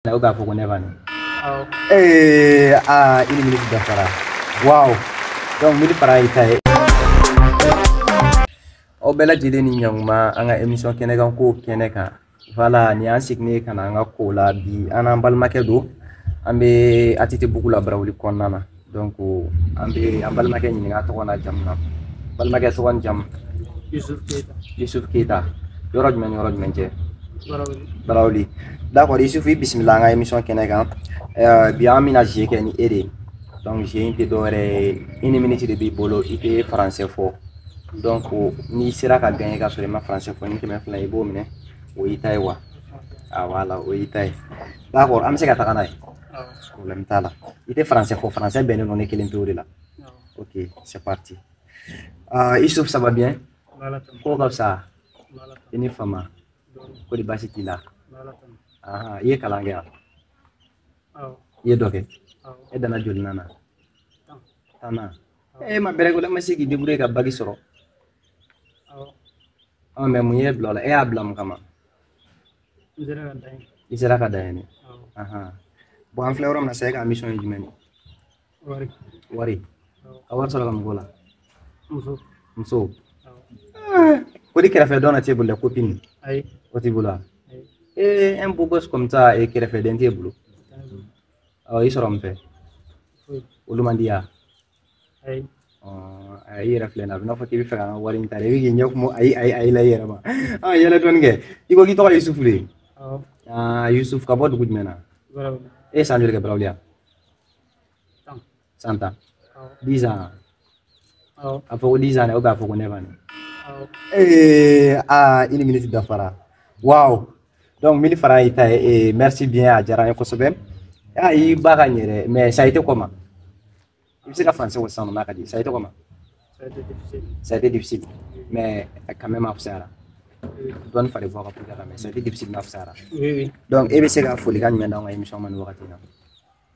na k'a fɔ ko ne bani ee aa une minute dafara waw donc mille francs y'i ta ye aw bɛɛ lajɛlen ni ɲankuma an ka émission kɛnɛ kan kow kɛnɛ kan voilà ni an seginna ka na an ka kow la bi an n'an balimakɛ don an bɛ atetebugu la barawuli kɔnɔna na donc an bɛ an balimakɛ ɲininka tɔgɔ n'a jamu na balimakɛ tɔgɔ ni jamu yusuf keyita yusuf keyita yɔrɔ jumɛn ni yɔrɔ jumɛn cɛ barawuli d'accord yusuf i bisimila an ka émission kɛnɛ kan eh, bi an bɛna jeu kɛ ni e de ye donc jeu in tɛ dɔwɛrɛ ye une minute de b'i bolo i tɛ français fɔ donc n'i sera ka gagner ka sɔrɔ i ma français fɔ nin kɛmɛ fila i b'o minɛ o y'i ta ye wa voilà o y'i ta ye d'accord an bɛ se ka taga n'a ye problème t'a la i tɛ français fɔ français bɛnnen don ne kelen pewu de la ok c'est parti uh, yusuf ça va bien ko ka fisa i ni fama ko di baasi t'i la aha i ye kalan kɛ yan i ye dɔ kɛ e danna jolinan na tannan e ma bɛrɛ kɛ o la ma se k'i débrouiller ka bac sɔrɔ ɔ mais mun y'i bila o la e y'a bila mun kama n sera ka dan yen i sera ka dan yen awɔ ahan bon an filɛ yɔrɔ min na sa e ka mission ye jumɛn ye wari wari awɔ ka wari sɔrɔ ka mun kɛ o la muso muso awɔ ko di kɛrɛfɛ dɔn na t'e bolo dɛ copine ayi o t'i bolo wa ayi ee un beau gosse comme ça e kɛrɛfɛden t'e bolo t'a bolo awɔ i sɔrɔ mun fɛ foyi olu man di i ye wa ayi ayi yɛrɛ filɛ na a b'i n'a fɔ k'i b'a fɛ ka n ka wari in ta dɛ i bɛ k'i ɲɛ kumu ayi ayi ayi la i yɛrɛ ma ɔ yɛlɛ dɔɔni kɛ i ko k'i tɔgɔ ye yusufu de aa yusufu ka bɔ dugu jumɛn na e ye san joli kɛ barawuli yan san tan dix ans a fɔ ko dix ans dɛ o b'a fɔ ko neuf ans ee aa une minute dafara waaw donc mille francs y'i ta ye eh, merci bien a diyara n ye kosɛbɛ ayi i b'a gagner dɛ mais ça a été comment i bɛ se ka français fɔ sisan n'a ka di ça a été comment ça a été difficile ça a été difficile mais quand même a fisayara dɔɔni fari bɔ ka puruke ka mɛ ça a été difficile nka a fisayara oui oui donc e bɛ se ka folikan jumɛn d'anw ka émission ma nin wagati in na